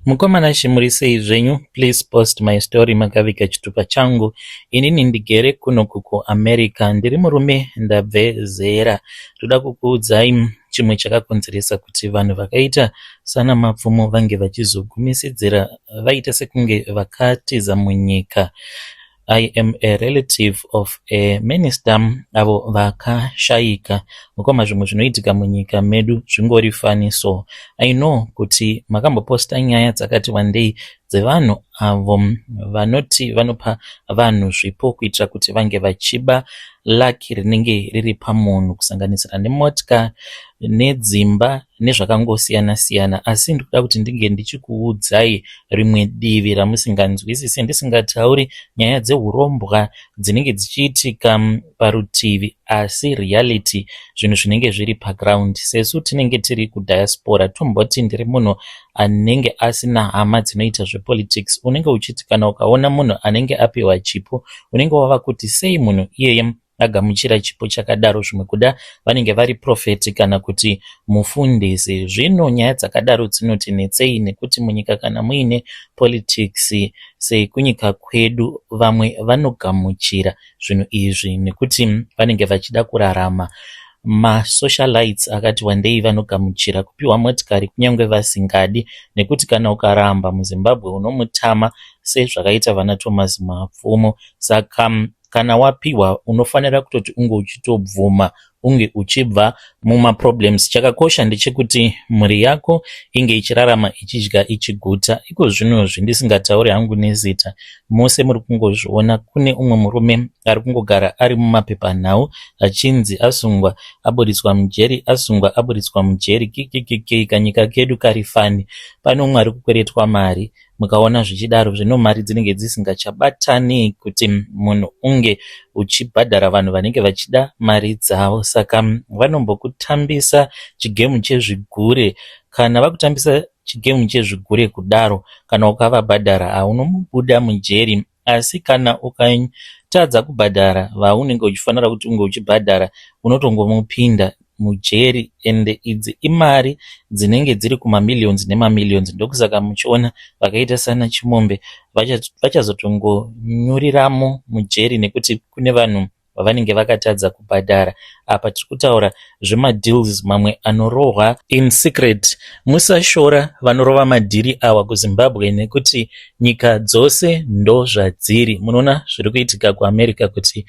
Mukoma Nashe muri sei zvenyu please post my story makaviga chitupa changu inini ndigere kuno kuku America ndiri murume ndabve zera ndoda kukuudzai chimwe chakakonzeresa kuti vanhu vakaita sana mapfumo vange vachizogumisidzira vaita sekunge vakatiza munyika I am a relative of a minister avo vakashaika. Mukoma zvimwe zvinoitika munyika medu zvingori fani so. I know kuti makamboposta nyaya dzakati wandei dzevanhu avo vanoti vanopa vanhu zvipo kuitira kuti vange vachiba laki rinenge riri pamunhu kusanganisira nemotka nedzimba nezvakangosiyana siyana asi ndikuda kuti ndinge ndichikuudzai rimwe divi ramusinganzwisise ndisingatauri nyaya dzeurombwa dzinenge dzichiitika mm, parutivi asi reality zvinhu zvinenge zviri paground sesu tinenge tiri kudiaspora tomboti ndiri munhu anenge asina hama dzinoita zvepolitics unenge uchiti kana ukaona munhu anenge apiwa chipo unenge wava kuti sei munhu iyeye agamuchira chipo chakadaro zvimwe kuda vanenge vari profeti kana kuti mufundisi zvino nyaya dzakadaro dzinoti netsei nekuti munyika kana muine politics sekunyika kwedu vamwe vanogamuchira zvinhu izvi nekuti vanenge vachida kurarama masocialites akati wandei vanogamuchira kupiwa motikari kunyange vasingadi nekuti kana ukaramba muzimbabwe unomutama sezvakaita vana thomas mapfumo saka kana wapihwa unofanira kutoti unge uchitobvuma unge uchibva mumaproblems chakakosha ndechekuti mhuri yako inge ichirarama ichidya ichiguta iko zvino zvindisingatauri hangu nezita mose muri kungozviona kune umwe murume ari kungogara ari mumapepanhau achinzi asungwa aburitswa mujeri asungwa aburitswa mujeri kikikikei kanyika kedu kari fani pane umwe ari kukweretwa mari mukaona zvichidaro zvino mari dzinenge dzisingachabatani kuti munhu unge uchibhadhara vanhu vanenge vachida mari dzavo saka vanombokutambisa chigemu chezvigure kana vakutambisa chigemu chezvigure kudaro kana ukavabhadhara haunomubuda mujeri Asi kana ukatadza kubhadhara vaunenge uchifanira kuti unge uchibhadhara unotongomupinda mujeri ende idzi imari dzinenge dziri kumamillions nemamillions ndokusaka muchiona vakaita sana Chimombe vachazotongonyuriramo mujeri nekuti kune vanhu vavanenge vakatadza kubhadhara apa tiri kutaura zvemadeals mamwe anorohwa in secret musashora vanorova madhiri awa kuzimbabwe nekuti nyika dzose ndozvadziri munoona zviri kuitika kuamerica kuti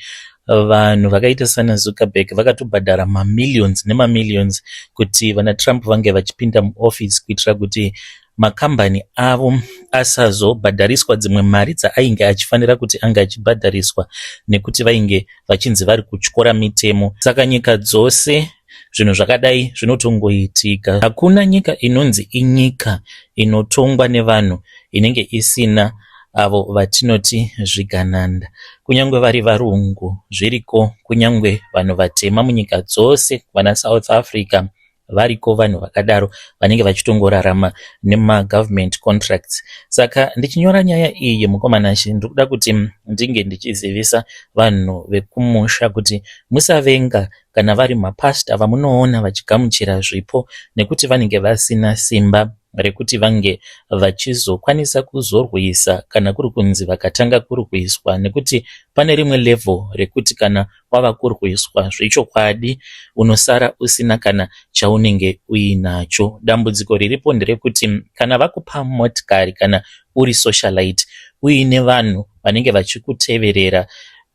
vanhu vakaita sana zuckerberg vakatobhadhara mamillions nemamillions kuti vana trump vange vachipinda muoffice kuitira kuti makambani avo asazobhadhariswa dzimwe mari dzaainge achifanira kuti ange achibhadhariswa nekuti vainge vachinzi vari kutyora mitemo saka nyika dzose zvinhu zvakadai zvinotongoitika hakuna nyika inonzi inyika inotongwa nevanhu inenge isina avo vatinoti zvigananda kunyange vari varungu zviriko kunyange vanhu vatema munyika dzose vana south africa variko vanhu vakadaro vanenge vachitongorarama nemagovernment contracts saka ndichinyora nyaya iyi mukomana shi ndiri kuda kuti ndinge ndichizivisa vanhu vekumusha kuti musavenga kana vari mapasta vamunoona vachigamuchira zvipo nekuti vanenge vasina simba rekuti vange vachizokwanisa kuzorwisa kana kuri kunzi vakatanga kurwiswa nekuti pane rimwe level rekuti kana kwava kurwiswa zvechokwadi unosara usina kana chaunenge uinacho. Dambudziko riripo nderekuti kana vakupa motikari kana uri socialite uine vanhu vanenge vachikuteverera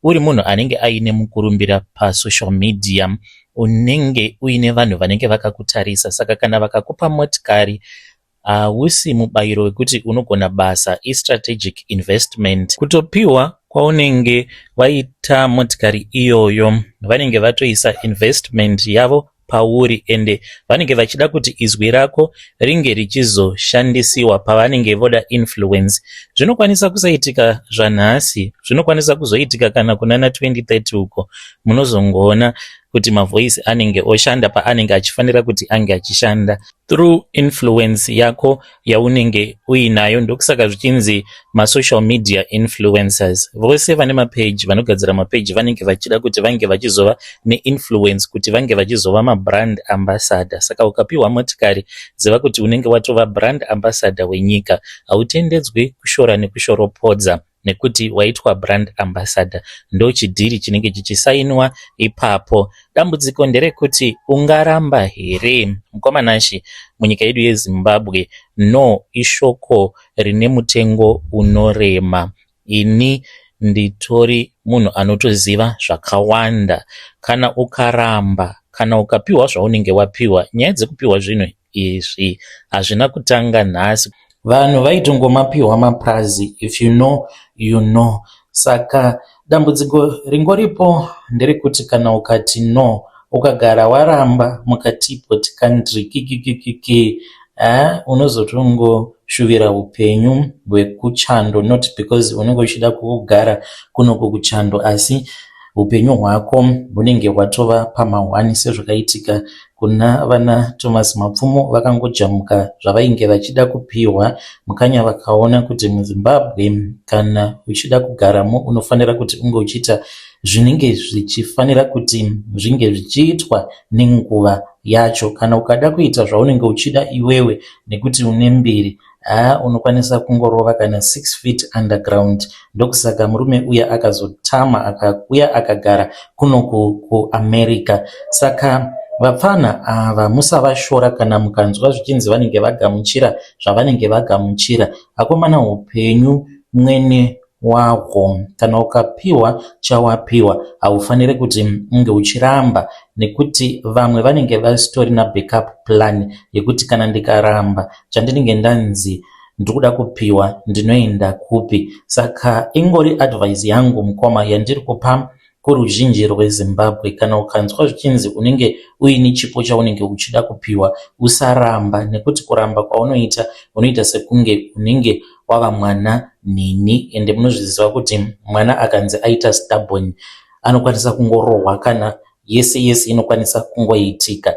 uri munhu anenge aine mukurumbira pasocial media unenge uine vanhu vanenge vakakutarisa saka kana vakakupa motikari Hausi mubayiro wekuti unogona basa, istrategic investment. Kutopihwa kwaunenge waita motikari iyoyo vanenge vatoisa investment yavo pauri ende vanenge vachida kuti izwi rako ringe richizoshandisiwa pavanenge voda influence. Zvinokwanisa kusaitika zvanhasi, zvinokwanisa kuzoitika kana kunana 2030 uko munozongoona kuti mavoice anenge oshanda paanenge achifanira kuti ange achishanda. through influence yako yaunenge uinayo ndokusaka zvichinzi masocial media influencers vose vane mapage vanogadzira mapage vanenge vachida kuti vange vachizova neinfluence kuti vange vachizova mabrand ambassador saka ukapiwa motikari ziva kuti unenge watova brand ambassador wenyika hautendedzwi kushora nekushoropodza nekuti waitwa brand ambassador ndochidhiri chinenge chichisainwa ipapo dambudziko nderekuti ungaramba here mukoma nashi munyika yedu yezimbabwe no ishoko rine mutengo unorema ini nditori munhu anotoziva zvakawanda kana ukaramba kana ukapiwa zvaunenge wapiwa nyaya dzekupiwa zvinhu izvi hazvina kutanga nhasi vanhu vaitongomapiwa mapurazi if you know you know saka dambudziko ringoripo nderekuti kana ukati no ukagara waramba mukati poti kandri kikikikiki eh, unozotongoshuvira upenyu hwekuchando not because unenge uchida kugara kunoko kuchando asi upenyu hwako hunenge hwatova pamahwani sezvakaitika Kuna vana Thomas Mapfumo vakangojamuka zvavainge vachida kupihwa mukanya vakaona kuti muZimbabwe kana uchida kugaramo unofanira kuti unge uchiita zvinenge zvichifanira kuti zvinge zvichiitwa nenguva yacho kana ukada kuita zvaunenge uchida iwewe nekuti une mbiri Haa unokwanisa kungorova kana 6 feet underground ndokusaka murume uya akazotama akakuya akagara kuno kuamerica saka vapfana ava musavashora kana mukanzwa zvichinzi vanenge vagamuchira zvavanenge vagamuchira akomana upenyu mwene wako kana ukapiwa chawapiwa haufanire kuti unge uchiramba nekuti vamwe vanenge vasitorina backup plan yekuti kana ndikaramba chandinenge ndanzi ndiri kuda kupiwa ndinoenda kupi saka ingori advice yangu mukoma yandiri kupa Kuruzhinji rweZimbabwe, kana ukanzwa zvichinzi unenge uine chipo chaunenge uchida kupiwa, usaramba nekuti kuramba kwaunoita unoita sekunge unenge wava mwana nhinhi ende munozviziva kuti mwana akanzi aita stubborn anokwanisa kungorohwa kana yese yese inokwanisa kungoitika.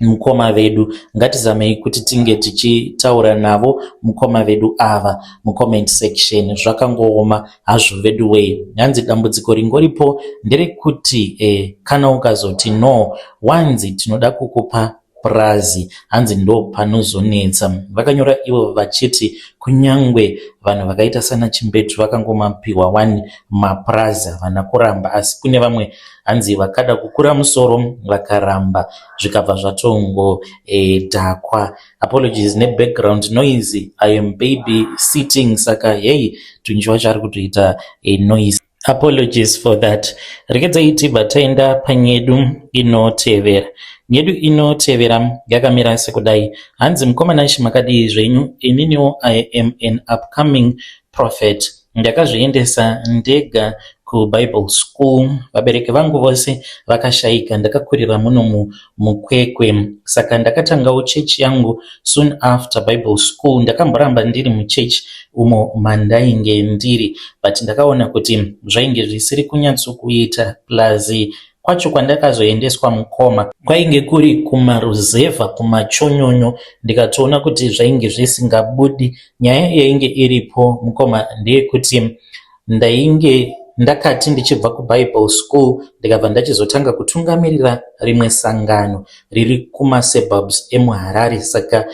Mukoma vedu ngatizamei kuti tinge tichitaura navo mukoma vedu ava mucomment section zvakangooma hazvo veduwee hanzi dambudziko ringoripo nderekuti eh, kana ukazoti no wanzi tinoda kukupa purazi hanzi ndo panozonetsa vakanyora ivo vachiti kunyangwe vanhu vakaita sana chimbetu vakangomapiwa wani mapurazi havana kuramba asi kune vamwe hanzi vakada kukura musoro vakaramba zvikabva zvatongo e, dhakwa apologies ne background noise i am baby sitting saka hey tunji wacho ari kutoita e, noise apologies for that rekedzai tibva taenda panyedu inotevera nyedu inotevera yakamira sekudai hanzi mukomana shi makadii zvenyu ininiwo i am an upcoming prophet Ndakazviendesa ndega kuBible school vabereki vangu vose vakashaika ndakakurira muno muKwekwe saka ndakatangawo church yangu soon after Bible school ndakamboramba ndiri muchurch umo mandainge ndiri but ndakaona kuti zvainge zvisiri kunyatsokuita plus Kwacho kwandakazoendeswa mukoma kwainge kuri kumaruzevha kumachonyonyo ndikatoona kuti zvainge zvisingabudi. Nyaya yainge iripo mukoma ndeyekuti ndainge ndakati ndichibva kubible school ndikabva ndachizotanga kutungamirira rimwe sangano riri kumasurbubs emuharare saka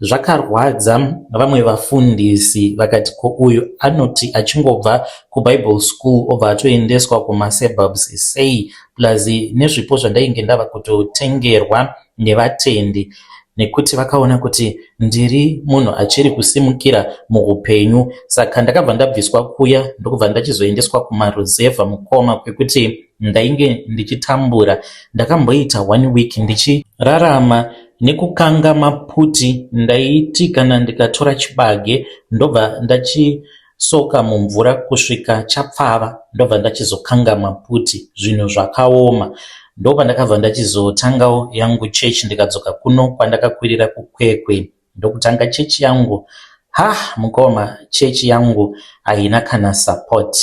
Zvakarwadza vamwe vafundisi vakati ko uyu anoti achingobva kuBible school obva atoendeswa kumasurbubs sei plus nezvipo zvandainge ndava kutotengerwa nevatendi nekuti vakaona kuti ndiri munhu achiri kusimukira muupenyu saka ndakabva ndabviswa kuya ndokubva ndachizoendeswa kumaruzevha mukoma kwekuti ndainge ndichitambura ndakamboita one week ndichirarama Nekukanga maputi ndaiti kana ndikatora chibage ndobva ndachisoka mumvura kusvika chapfava ndobva ndachizokanga maputi zvinhu zvakaoma. Ndopandakabva ndachizotangawo yangu church ndikadzoka kuno kwandakakwirira kuKwekwe ndokutanga church yangu. Ha mukoma church yangu haina kana support.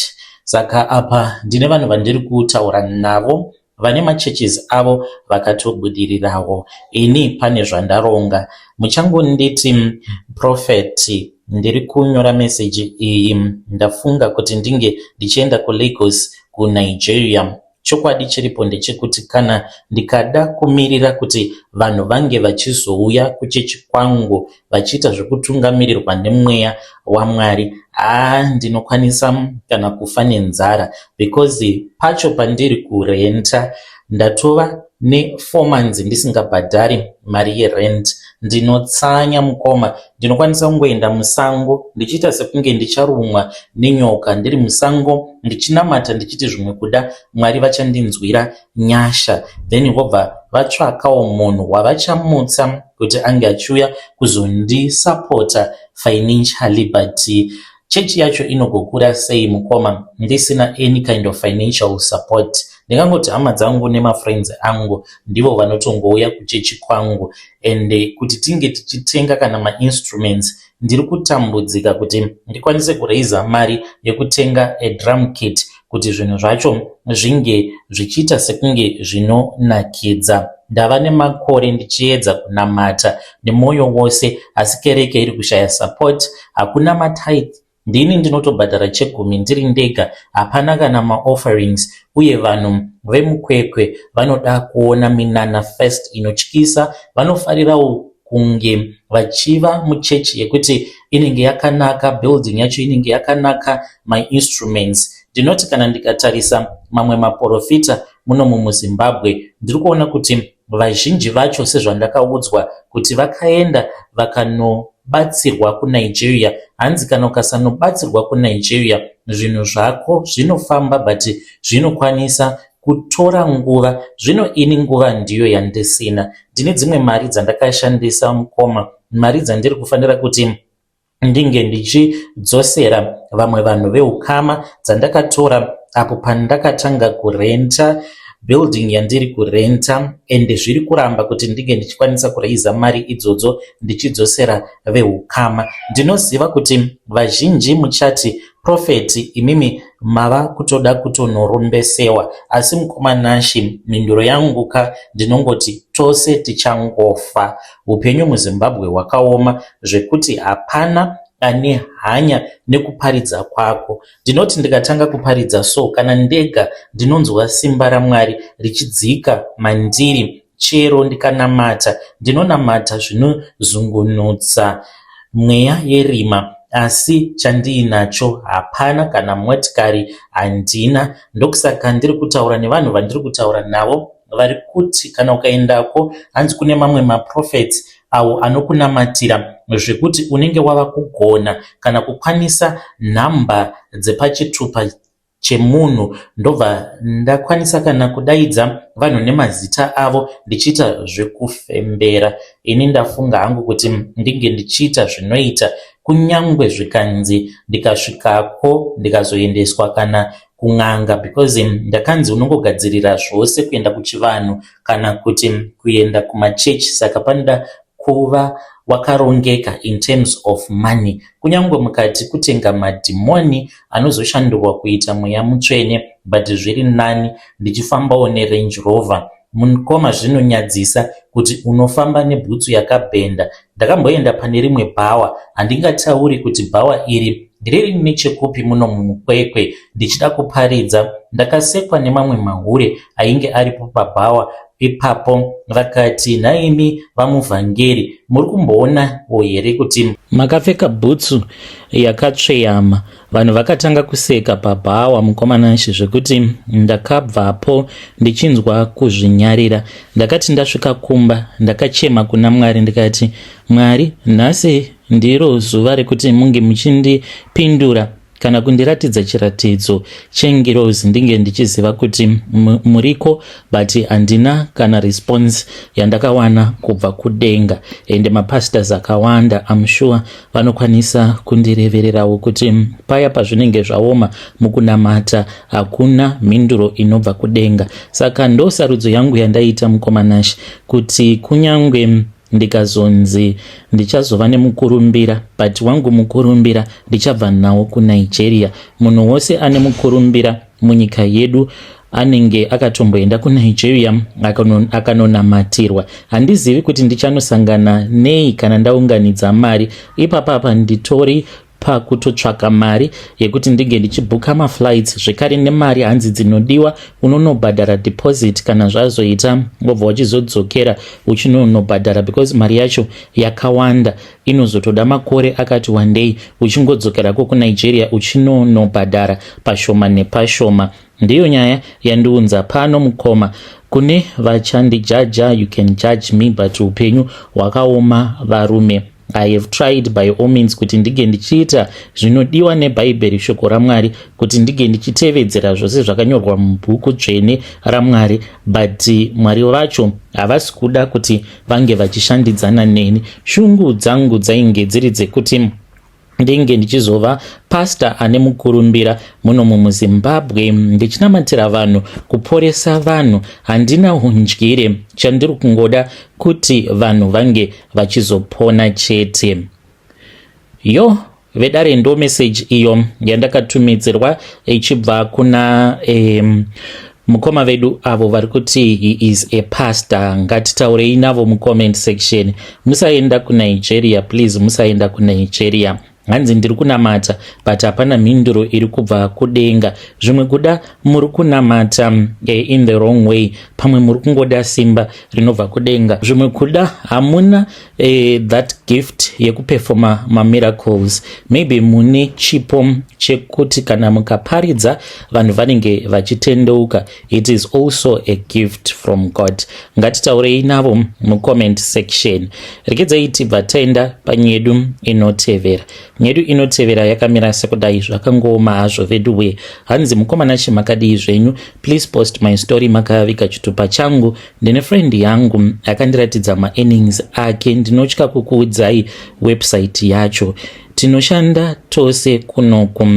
Saka apa ndine vanhu vandiri kutaura navo vane machurches avo vakatobudirirawo ini pane zvandaronga muchangonditi prophet ndiri kunyora meseji iyi ndafunga kuti ndinge ndichienda kulagos kunigeria chokwadi chiripo ndechekuti kana ndikada kumirira kuti vanhu vange vachizouya kuchechi kwangu vachiita zvekutungamirirwa nemweya waMwari haa ndinokwanisa kana kufa nenzara because pacho pandiri kurenta ndatova nefour months ndisingabhadhari mari yerent ndinotsanya mukoma ndinokwanisa kungoenda musango ndichiita sekunge ndicharumwa nenyoka ndiri musango ndichinamata ndichiti zvimwe kuda mwari vachandinzwira Nyasha then vobva vatsvakawo munhu wavachamutsa kuti ange achiuya kuzondisapota financially but chechi yacho inogokura sei mukoma ndisina any kind of financial support ndingangoti hama dzangu nemafriends angu ndivo vanotongouya kuchechi kwangu and kuti tinge tichitenga kana mainstruments Ndiri kutambudzika kuti ndikwanise kuraiser mari yekutenga a drum kit kuti zvinhu zvacho zvinge zvichiita sekunge zvinonakidza. Ndava nemakore ndichiedza kunamata nemwoyo wose asi kereke iri kushaya support, hakuna matithe ndini ndinotobhadhara chegumi ndiri ndega, hapana kana maofferings uye vanhu vemukwekwe vanoda kuona minana first inotyisa, vanofarirawo kunge vachiva muchechi yekuti inenge yakanaka building yacho inenge yakanaka my instruments ndinoti kana ndikatarisa mamwe maporofita muno mumuzimbabwe ndiri kuona kuti vazhinji vacho sezvandakaudzwa kuti vakaenda vakanobatsirwa kunigeria hanzi kana ukasanobatsirwa kunigeria zvinhu zvako zvinofamba but zvinokwanisa kutora nguva zvino ini nguva ndiyo yandisina ndine dzimwe mari dzandakashandisa mukoma mari dzandiri kufanira kuti ndinge ndichidzosera vamwe vanhu veukama dzandakatora apo pandakatanga kurenta building yandiri kurenta ende zviri kuramba kuti ndinge ndichikwanisa kuraiza mari idzodzo ndichidzosera veukama ndinoziva kuti vazhinji muchati Prophet imimi mava kutoda kutonorombesewa asi mukoma Nashy mhinduro yangu ka ndinongoti tose tichangofa. Hupenyu muZimbabwe hwakaoma zvekuti hapana ane hanya nekuparidza kwako. Ndinoti ndikatanga kuparidza so kana ndega ndinonzwa simba raMwari richidzika mandiri Chero ndikanamata, ndinonamata zvinozungunutsa mweya yerima, asi chandiinacho hapana kana motikari handina. Ndokusaka ndiri kutaura nevanhu vandiri kutaura navo vari kuti kana ukaendako hanzi kune mamwe maprophets awo anokunamatira zvekuti unenge wava kugona kana kukwanisa nhamba dzepachitupa chemunhu ndobva ndakwanisa kana kudaidza vanhu nemazita avo ndichiita zvekufembera ini ndafunga hangu kuti ndinge ndichiita zvinoita kunyange zvikanzi ndikasvikako ndikazoendeswa kana kun'anga because ndakanzi unongogadzirira zvose kuenda kuchivanhu kana kuti kuenda kumachechi saka panoda kuva wakarongeka in terms of money kunyangwe mukati kutenga madhimoni anozoshandurwa kuita mweya mutsvene but zviri nani ndichifambawo nerange rover mukoma zvinonyadzisa kuti unofamba nebhutsu yakabhenda ndakamboenda pane rimwe bhawa handingatauri kuti bhawa iri riri nechekupi muno mumukwekwe ndichida kuparidza ndakasekwa nemamwe mahure ainge aripo pabhawa ipapo vakati nhaimi vamuvhangeri muri kumboona wo here kuti makapfeka bhutsu yakatsveyama vanhu vakatanga kuseka pabhawa mukomanashe zvekuti ndakabvapo ndichinzwa kuzvinyarira ndakati ndasvika kumba ndakachema kuna mwari ndikati mwari nhasi ndiro zuva rekuti munge muchindipindura kana kundiratidza chiratidzo chengirozi ndinge ndichiziva kuti muriko but handina kana response yandakawana kubva kudenga ende mapastors akawanda amshuwa vanokwanisa kundirevererawo kuti paya pazvinenge zvaoma mukunamata hakuna mhinduro inobva kudenga saka ndosarudzo yangu yandaita mukomanash kuti kunyange ndikazonzi ndichazova nemukurumbira but wangu mukurumbira ndichabva nawo kunigeria munhu wose ane mukurumbira munyika yedu anenge akatomboenda kunigeria akanonamatirwa handizivi kuti ndichanosangana nei kana ndaunganidza mari ipapapa nditori pakutotsvaka mari yekuti ndinge ndichibhuka maflights zvekare nemari hanzi dzinodiwa unonobhadhara deposit kana zvazoita wobva wachizodzokera uchinonobhadhara because mari yacho yakawanda inozotoda makore akati wandei uchingodzokerako kunigeria uchinonobhadhara pashoma nepashoma ndiyo nyaya yandiunza pano mukoma kune vachandijaja you can judge me but upenyu hwakaoma varume I have tried by all means kuti ndige ndichiita zvinodiwa nebhaibheri shoko ramwari kuti ndige ndichitevedzera zvose zvakanyorwa mubhuku dzvene ramwari but mwari vacho havasi kuda kuti vange vachishandidzana neni shungu dzangu dzainge dziri dzekuti ndinge ndichizova pastor ane mukurumbira muno mumuzimbabwe ndichinamatira vanhu kuporesa vanhu handina hundyire chandiri kungoda kuti vanhu vange vachizopona chete yo vedare ndo meseji iyo yandakatumidzirwa ichibva kuna um, mukoma vedu avo vari kuti he is a pastor ngatitaurei navo mucomment section musaenda kunigeria please musaenda kunigeria hanzi ndiri kunamata but hapana mhinduro iri kubva kudenga zvimwe kuda muri kunamata eh, in the wrong way pamwe muri kungoda simba rinobva kudenga zvimwe kuda hamuna Uh, that gift yekuperfoma mamiracles maybe mune chipo chekuti kana mukaparidza vanhu vanenge vachitendeuka it is also a gift from god ngatitaurei navo mucomment section rekedzai tibva taenda panyedu inotevera nyedu inotevera yakamira sekudai zvakangooma hazvo vedu wee hanzi mukomana chimakadii zvenyu please post my story makavika chitupa changu ndine friend yangu akandiratidza maearnings ake ndinotya kukuudzai website yacho tinoshanda tose kunoku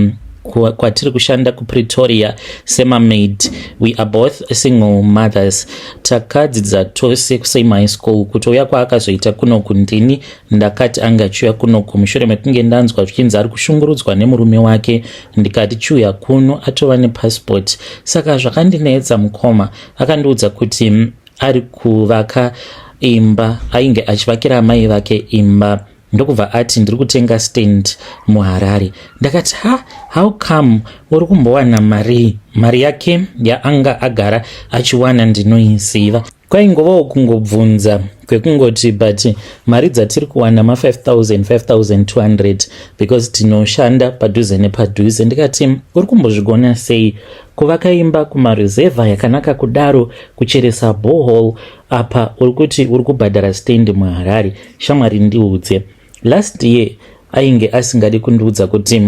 kwatiri kushanda kupretoria semamaid we are both single mothers takadzidza tose kusame high school kutouya kwaakazoita kunoku ndini ndakati ange achiuya kunoku mushure mekunge ndanzwa zvichinzi ari kushungurudzwa nemurume wake ndikati chiuya kuno atova nepassport saka zvakandinetsa mukoma akandiudza kuti mm, ari kuvaka imba ainge achivakira amai vake imba ndokubva ati ndiri kutenga stand muharare ndakati ha how come uri kumbowana marii mari yake yaanga agara achiwana ndinoiziva kwaingovawo kungobvunza kwekungoti but mari dzatiri kuwana ma500 because tinoshanda padhuze nepadhuze ndikati uri kumbozvigona sei Kuvaka imba kumaruzevha yakanaka kudaro, kucheresa borehole apa uri kuti uri kubhadhara stand muHarare. Shamwari ndiudze. Last year ainge asingadi kundiudza kuti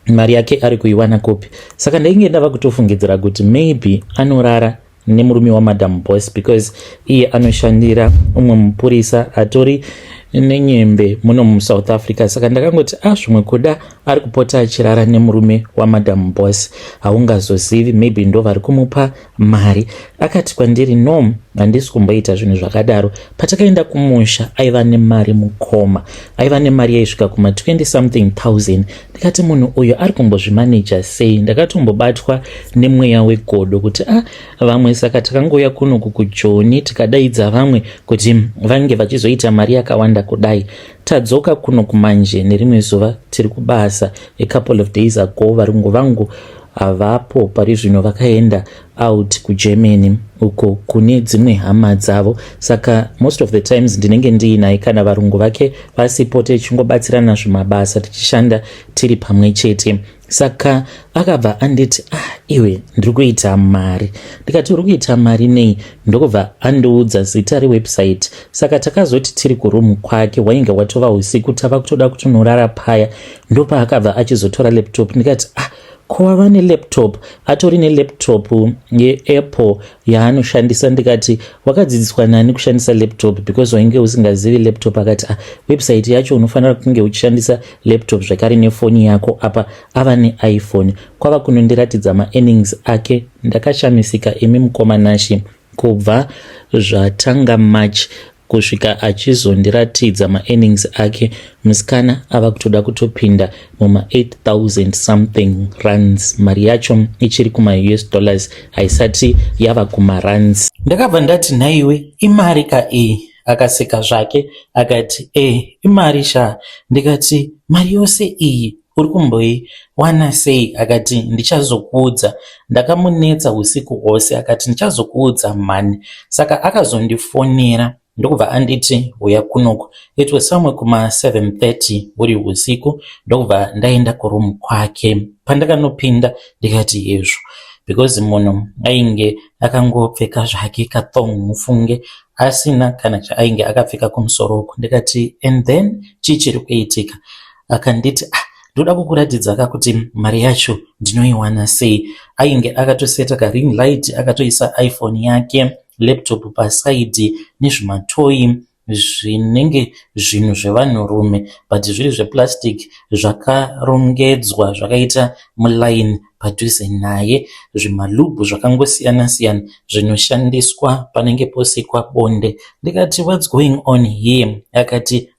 mari yake ari kuiwana kupi. Saka ndainge ndava kutofungidzira kuti maybe anorara nemurume wamadam boss because iye anoshandira umwe mupurisa atori nenyembe muno musouth africa saka ndakangoti a ah, zvimwe kuda ari kupota achirara nemurume wamadam boss haungazozivi maybe ndo vari kumupa mari akati kwandiri no handisi kumboita zvinhu zvakadaro patakaenda kumusha aiva nemari mukoma aiva nemari yaisvika kuma 20 something 000 ndikati munhu uyu ari kumbozvimaneja sei ndakatombobatwa nemweya wegodo kuti a ah, vamwe saka takangouya kuno kukujoni tikadaidza vamwe kuti vange vachizoita mari yakawanda kudai tadzoka kuno kumanje nerimwe zuva tiri kubasa a couple of days ago varungu vangu havapo pari zvino vakaenda out kugermany uko kune dzimwe hama dzavo saka most of the times ndinenge ndiinaye kana varungu vake vasipo tichingobatsirana zvimabasa tichishanda tiri pamwe chete saka akabva anditi ah iwe ndiri kuita mari ndikati uri kuita mari nei ndokubva andiudza zita rewebsite saka takazoti tiri kuroom kwake wainge watova usiku tava kutoda kutonorara paya ndopaakabva achizotora laptop ndikati ah ko wava nelaptop atori nelaptop yeapple yaanoshandisa ndikati wakadzidziswa nani kushandisa laptop because wainge usingazivi laptop akati ah, website yacho unofanira kunge uchishandisa laptop zvakare nefoni yako apa ava neiphone kwava kunondiratidza maearnings ake ndakashamisika imi mukoma nashi Kubva zvatanga March kusvika achizondiratidza maearnings ake musikana ava kutoda kutopinda muma 8000 something runs mari yacho ichiri kumaus dollars haisati yava kumaruns ndakabva ndati nhaiwe imari ka iyi akaseka zvake akati e imari sha ndikati mari yose iyi Uri kumboiwana sei? Akati, Ndichazokuudza. Ndakamunetsa usiku hwose. Akati, Ndichazokuudza mhani. Saka akazondifonera ndokubva anditi huya kunoku it was somewhere kuma 730 uri usiku ndokubva ndaenda kuroom kwake pandakanopinda ndikati hezvo because munhu ainge akangopfeka zvake kathong mufunge asina kana chaainge akapfeka kumusoro uku ndikati and then chii chiri kuitika akanditi ah ndoda kukuratidza ka kuti mari yacho ndinoiwana sei ainge akatoseta karing light akatoisa iphone yake laptop pasaidi nezvimatoyi zvinenge zvinhu zvevanhurume but zviri zveplastic zvakarongedzwa zvakaita mulaini padhuze naye zvimalubhu zvakangosiyana siyana zvinoshandiswa panenge posikwa bonde ndikati whats going on here akati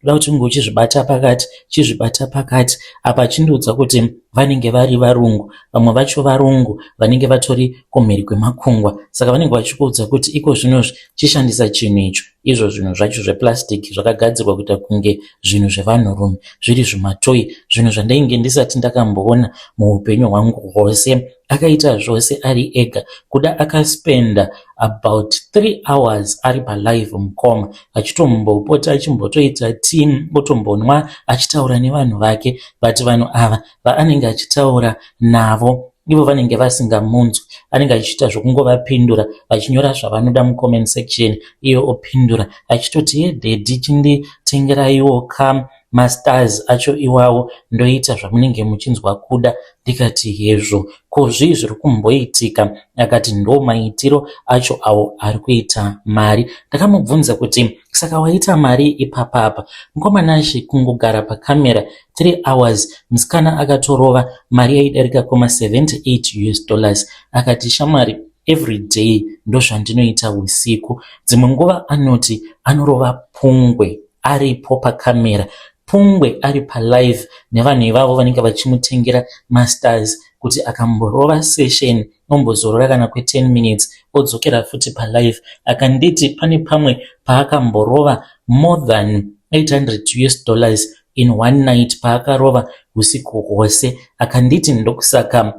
kuda kuti unge uchizvibata pakati chizvibata pakati apa chindiudza kuti vanenge vari varungu vamwe vacho varungu vanenge vatori kumhiri kwemakungwa saka vanenge vachikuudza kuti iko zvinozvi chishandisa chinhu icho izvo zvinhu zvacho zveplastic zvakagadzirwa kuita kunge zvinhu zvevanhurume zviri zvimatoi zvinhu zvandainge ndisati ndakamboona muupenyu hwangu hwose akaita zvose ari ega kuda akaspenda about three hours ari palive mukoma achitombopota achimbotoita team otombonwa achitaura nevanhu vake but vanhu ava vaanenge achitaura navo ivo vanenge vasingamunzwi anenge achiita zvokungovapindura vachinyora zvavanoda mucomment section iye opindura achitoti yedhedhi chinditengeraiwo kam mastars acho iwawo ndoita zvamunenge muchinzwa kuda ndikati hezvo ko zvii zviri kumboitika akati ndo maitiro acho awo ari kuita mari ndakamubvunza kuti saka waita mari ipapa apa mukomana ashe kungogara pacamera 3 hours musikana akatorova mari yaidarika koma 78 us dollars akati shamwari every day ndozvandinoita usiku dzimwe nguva anoti anorova pungwe aripo pacamera pungwe ari palive nevanhu ivavo vanenge vachimutengera masters kuti akamborova session ombozorora kana kwe 10 minutes odzokera futi palive akanditi pane pamwe paakamborova more than 800 us dollars in one night paakarova usiku hwose akanditi ndokusaka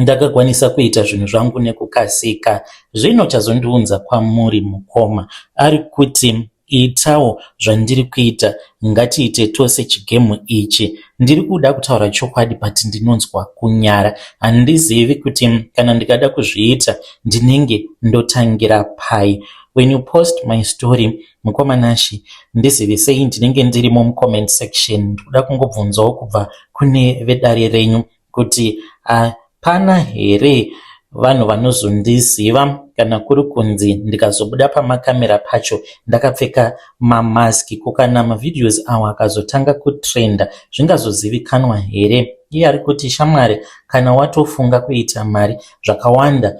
Ndakakwanisa kuita zvinhu zvangu nekukasika. Zvino chazondiunza kwamuri mukoma ari kuti itawo zvandiri kuita ngatiite tose chigemu ichi. Ndiri kuda kutaura chokwadi but ndinonzwa kunyara. Handizivi kuti kana ndikada kuzviita ndinenge ndotangira pai. When you post my story mukoma Nashy ndizivisei ndinenge ndirimo mucomment section. Ndikuda kungobvunzawo kubva kune vedare renyu kuti hapana here vanhu vanozondiziva kana kuri kunzi ndikazobuda pamakamera pacho ndakapfeka mamask ko kana mavideos awa akazotanga kutrenda zvingazozivikanwa here iye ari kuti shamwari kana watofunga kuita mari zvakawanda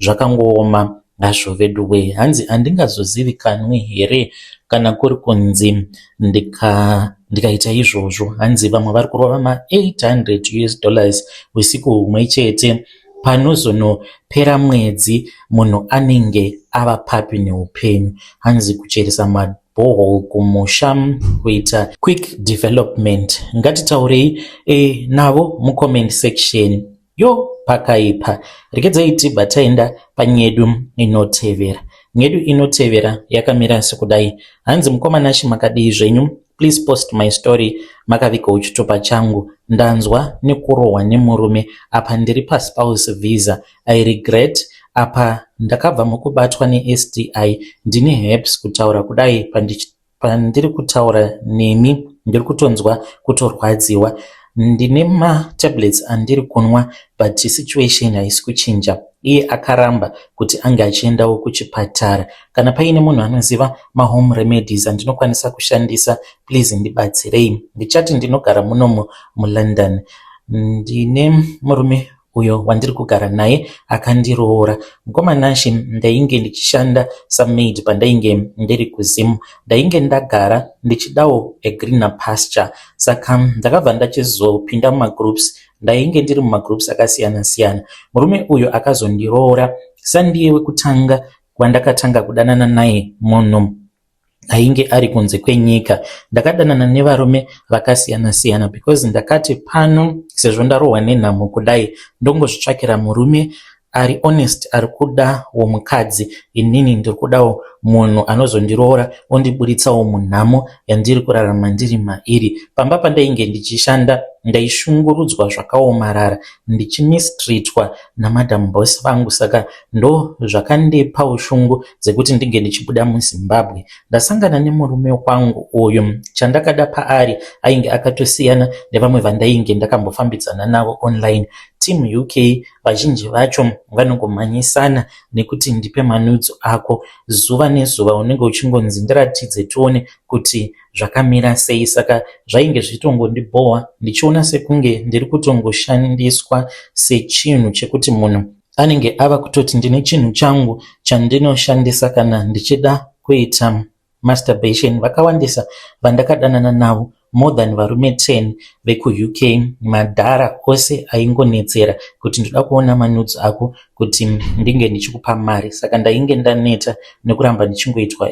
zvakangooma hazvo veduwe hanzi handingazozivikanwi here kana kuri kunzi ndika ndikaita izvozvo hanzi vamwe vari kurova ma800 us dollars usiku humwe chete panozonopera mwedzi munhu anenge ava papi neupenyu hanzi kucheresa ma bhoho kumusha kuita quick development ngatitaurei e, navo mucomment section Yo pakaipa rekedzai tibva taenda panyedu inotevera. Nyedu inotevera yakamira sekudai. Hanzi mukoma Nashe makadii zvenyu? Please post my story makavika uchitupa changu. Ndanzwa nekurohwa nemurume apa ndiri paspouse visa. I regret apa ndakabva mukubatwa neSTI ndine herpes kutaura kudai pandichi Pandiri kutaura nemi ndiri kutonzwa kutorwadziwa. Ndine matablets andiri kunwa but situation haisi kuchinja. Iye akaramba kuti ange achiendawo kuchipatara. Kana paine munhu anoziva mahome remedies andinokwanisa kushandisa please ndibatsirei. Ndichati ndinogara munomu muLondon. Ndine murume uyo wandiri kugara naye akandiroora. Mukoma Nashe ndainge ndichishanda samaid pandainge ndiri kuZim. Ndainge ndagara ndichidawo a greener pasture saka ndakabva ndachizopinda mumagroups. Ndainge ndiri mumagroups akasiyana siyana. Murume uyu akazondiroora sandiye wekutanga wandakatanga kudanana naye munhu. ainge ari kunze kwenyika. Ndakadanana nevarume vakasiyana siyana because ndakati pano sezvo ndarohwa nenhamo kudai ndongozvitsvakira murume ari honest ari kuda womukadzi inini ndiri kudawo munhu anozondiroora ondiburitsawo munhamo yandiri kurarama ndiri mairi pamba pandainge ndichishanda ndaishungurudzwa zvakaomarara ndichimistritwa namadam bos vangu saka ndo zvakandipa ushungu dzekuti ndinge ndichibuda muzimbabwe ndasangana nemurume kwangu uyu chandakada paari ainge akatosiyana nevamwe vandainge ndakambofambidzana navo online team uk vazhinji vacho vanongomhanyisana nekuti ndipe manudzo ako zuva nezuva unenge uchingonzi ndiratidze tione kuti zvakamira sei saka zvainge zvitongondibhohwa ndichiona sekunge ndiri kutongoshandiswa sechinhu chekuti munhu anenge ava kutoti ndine chinhu changu chandinoshandisa kana ndichida kuita masturbation vakawandisa vandakadanana navo more than varume 10 vekuuk madhara ose aingonetsera kuti ndoda kuona manudzi ako kuti ndinge ndichikupa mari saka ndainge ndaneta nekuramba ndichingoitwa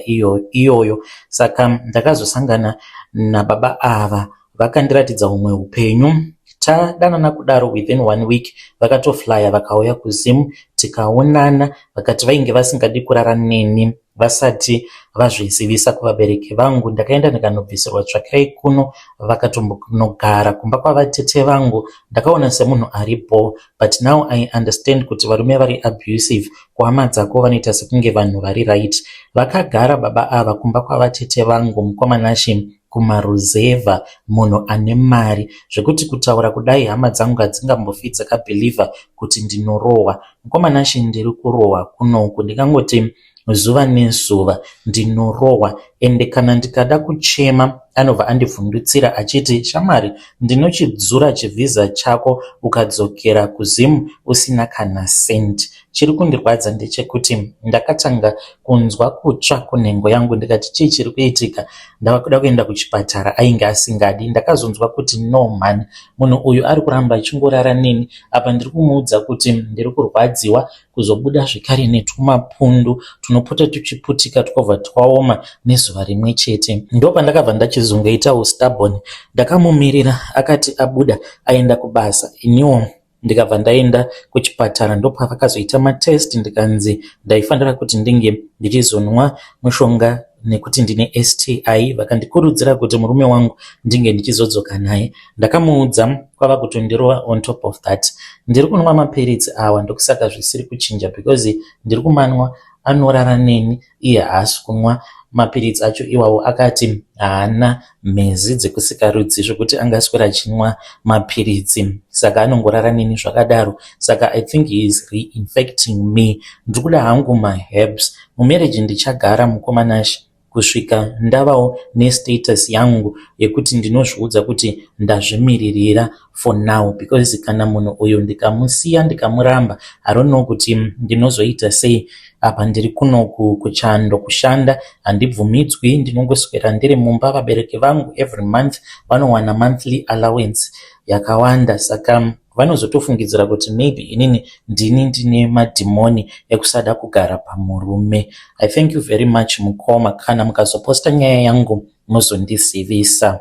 iyoyo saka ndakazosangana nababa ava vakandiratidza humwe upenyu tadanana kudaro within one week vakatoflaya vakauya kuzim tikaonana vakati vainge vasingadi kurara neni vasati vazvizivisa kuvabereki vangu ndakaenda ndikanobvisirwa tsvakirai kuno vakatombonogara kumba kwavatete vangu ndakaona semunhu ari bho but now i understand kuti varume vari abusive kuhama dzako vanoita sekunge vanhu vari right vakagara baba ava kumba kwavatete vangu mukomanashi kumaruzevha munhu ane mari zvekuti kutaura kudai hama dzangu hadzingambofi dzakabhilivha kuti ndinorohwa. Mukoma Nashe ndiri kurohwa kunoku ndingangoti zuva nezuva ndinorohwa ende kana ndikada kuchema anobva andivhundutsira achiti shamwari ndinochidzura chivhiza chako ukadzokera kuZim usina kana senti. Chiri kundirwadza ndechekuti ndakatanga kunzwa kutsva kunhengo yangu ndikati chii chiri kuitika ndava kuda kuenda kuchipatara ainge asingadi ndakazonzwa kuti no mhani munhu uyu ari kuramba achingorara neni apa ndiri kumuudza kuti ndiri kurwadziwa kuzobuda zvekare netwumapundu tunopota tuchiputika twobva twaoma nezuva rimwe chete ndo pandakabva ndachizongoita ustabon ndakamumirira akati abuda aenda kubasa iniwo ndikabva ndaenda kuchipatara ndopavakazoita matest ndikanzi ndaifanira kuti ndinge ndichizonwa mushonga nekuti ndine sti vakandikurudzira kuti murume wangu ndinge ndichizodzoka naye ndakamuudza kwava kutondirova on top of that ndiri kunwa mapiritsi awa ndokusaka zvisiri kuchinja because ndiri kumanwa anorara neni iye haasi kunwa mapiritsi acho iwawo akati haana mhezi dzekusikarudzi zvekuti angaswera achinwa mapiritsi saka anongorara neni zvakadaro saka i think he is reinfecting me ndiri kuda hangu maherbs mumarriage ndichagara mukomanashi kusvika ndavawo nestatus yangu yekuti ndinozviudza kuti ndazvimiririra for now because kana munhu uyu ndikamusiya ndikamuramba I don't know kuti ndinozoita sei apa ndiri kuno kuchando kushanda handibvumidzwi ndinongoswera ndiri mumba vabereki vangu every month vanowana monthly allowance yakawanda saka vanozotofungidzira kuti maybe inini ndini ndine madhimoni ekusada kugara pamurume i thank you very much mukoma kana mukazoposta nyaya yangu mozondizivisa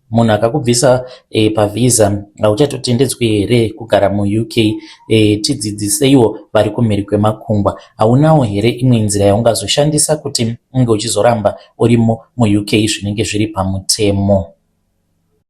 munhu akakubvisa e, pavhiza hauchatotendedzwi here kugara muuk e, eh, tidzidziseiwo vari kumhiri kwemakungwa haunawo here imwe nzira yaungazoshandisa kuti unge uchizoramba urimo muuk zvinenge zviri pamutemo